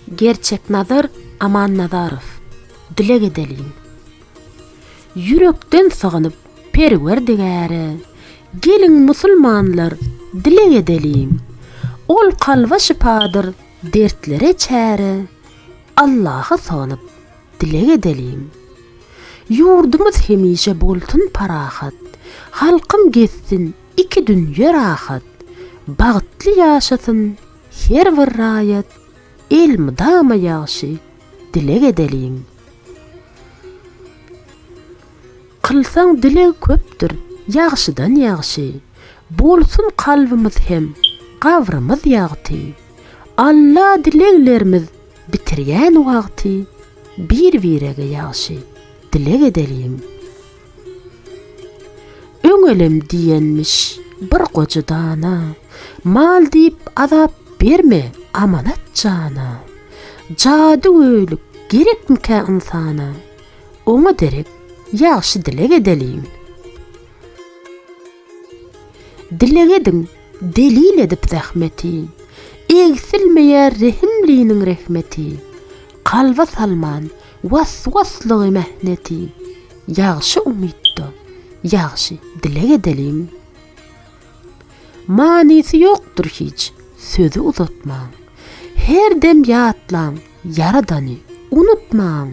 Gerçeknazar Amannazarow dileg edeliň. Ýürekden sygynyp Perwerdigäre, Geliň musulmanlar dileg edeliň. Ol kalba şypadyr dertlere çäre, Allaha sygynyp dileg edeliň. Ýurdumyz hemişe bolsun parahat, Halkym gezsin Iki dünýe rahat, bagtly ýaşasyn her bir raýat elmydama ýagşy dileg edeliň. Kylsaň dileg köpdür ýagşydan ýagşy, bolsun kalbymyz hem gabrymyz ýagty. Alla dileglerimiz bitirýän wagty bir-birege ýagşy dileg edeliň. Öňelem diýenmiş bir goja dana, Mal diýip azap berme amanat jana. Jady göýlük gerekmikä ynsana, Oňa derek ýagşy dileg edeliň. Dileg ediň delil edip zähmeti, Egsilmeýär rehimliniň rehmeti. Kalba salman Waswaslygy mähneti, ýagşy umytda, ýagşy dileg edeliň. Manysy ýokdur hiç, sözi uzatmaň. Her dem ýatlaň Ýaradany, unutmaň.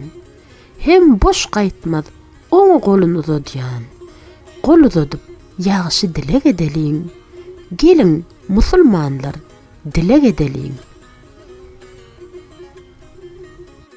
Hem boş gaýtmaz oňa golun uzadýan. Gol uzadyp, ýagşy dileg edeliň. Geliň, musulmanlar, dileg edeliň.